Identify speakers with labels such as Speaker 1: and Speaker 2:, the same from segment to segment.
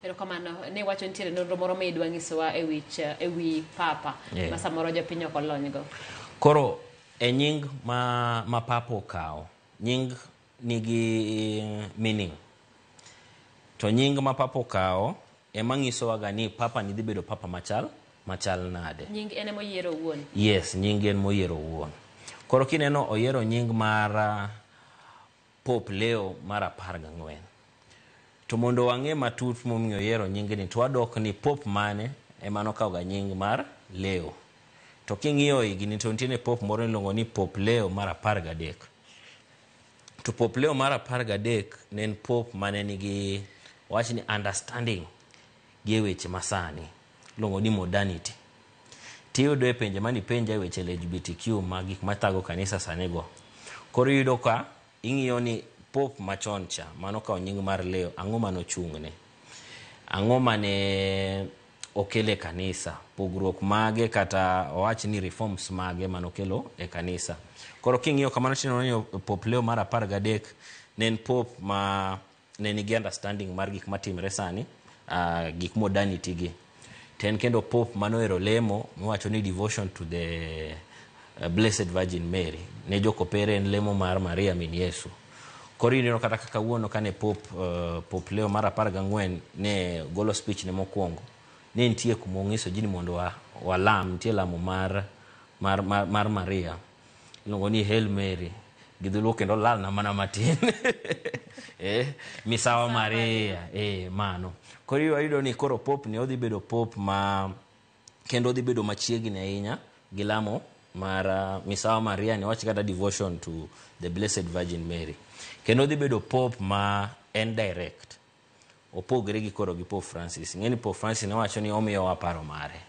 Speaker 1: Erokamano ni iwacho ni nitiere nonro moro midwa nyisowa e wi ch- e wi papa Yeah. ma samoro jopiny ok olonygo. Koro
Speaker 2: e nying ma, ma papa okawo, nying nigi meaning. To nying ma papa okawo ema nyisowaga ni papa ni dhi bedo papa machal, machal nade. Nying en ema oyiero
Speaker 1: owuon. Yes, nying en
Speaker 2: moyiero owuon. Koro kineno oyiero nying mar ah, Pope Leo mar apar gang'wen. To mondo wang'e matut momiyo oyiero nyingni to wadok ni Pope mane ema nokawo ga nying mar Leo. To king'iyo higni to nitiere Pope moro niluongo ni Pope Leo mar apar gadek. To Pope Leo mar apar gadek ne en Pope mane nigi wawach ni understanding gi e weche masani iluongo ni modernity tiyudo e penjo mane ipenja e weche LGBTQ ma gik mathago kanisa sani go koro iyudo ka ing'iyo ni pope machon cha mane okawo nying mar Leo ang'o mane ochung'ne, ang'o mane okelo e kanisa, pogruok mage kata wawach ni reforms mage mane okelo e kanisa. Koro king'iyo kamano tineno ni pope Leo mar apar gadek ne en pope ma ne nigi understanding mar gik matimre sani uh, gik modernity gi to en kendo pope manohero lemo miwacho ni devotion to the uh, blessed virgin mary ne jokopere en lemo mar maria min yesu koro ineno kata kaka wuono kane pop uh, pop leo mar apar gang'wen ne golo speech ne mokwongo ne nitie kuma onyiso ji ni mondo wa- walam nitie lamo mar, mar, mar, mar maria Iluongo ni Hail Mary gi dholuo kendo olalna mana matin eh, misawa Maria eh, mano koro iyo ayudo ni koro pop ni odhi bedo pop ma kendo odhi bedo machiegni ahinya gi lamo mar ah, misawa Maria ni wach kata devotion to the blessed virgin Mary kendo odhi bedo pop ma en direct Opogre gi koro gi Pope Francis. Ing'e ni Pope Francis ne wacho ni omiyowa paro mare.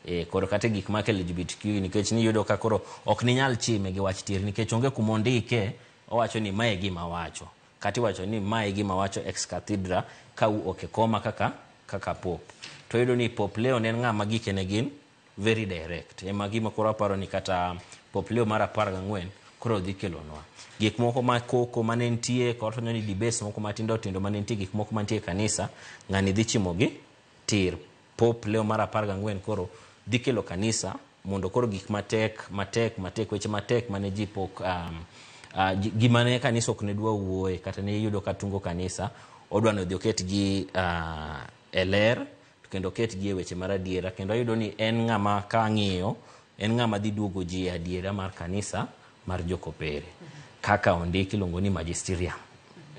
Speaker 2: Eh, koro kata gik mak LGBTQ nikech niyudo ka koro ok ninyal chime gi wach tieri nikech onge kuma ondike owacho ni mae gima awacho. Kata iwacho ni mae gima awacho ex cathedra ka u ok e koma kaka kaka Pope. To iyudo ni Pope Leo ne en ng'ama gike ne gin very direct ema gima koro aparo ni kata Pope Leo mar apar gang'wen koro dhi kelonwa gik moko ma koko mane nitie kod fwenyo ni debates moko matindo tindo mane nitie gik moko mantie e kanisa ng'ani dhi chimogi tir Pope Leo mar apar gang'wen koro dhi kelo kanisa mondo koro gik matek matek matek weche matek mane ji pok um, uh, ji- gima ne kanisa ok ne dwa wuoye kata ne iyudo ka tungo kanisa odwa ni odhi oketgi uh, e ler to kendo oketgi e weche mar adiera kendo ayudo ni en ng'ama ka ang'iyo en ng'ama dhi duogo ji e adiera mar kanisa mar jokopere kaka ondik iluongo ni magisterium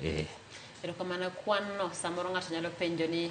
Speaker 1: eh. Erokamano
Speaker 2: kwan
Speaker 1: no samoro ng'ato nyalo
Speaker 2: penjo
Speaker 1: ni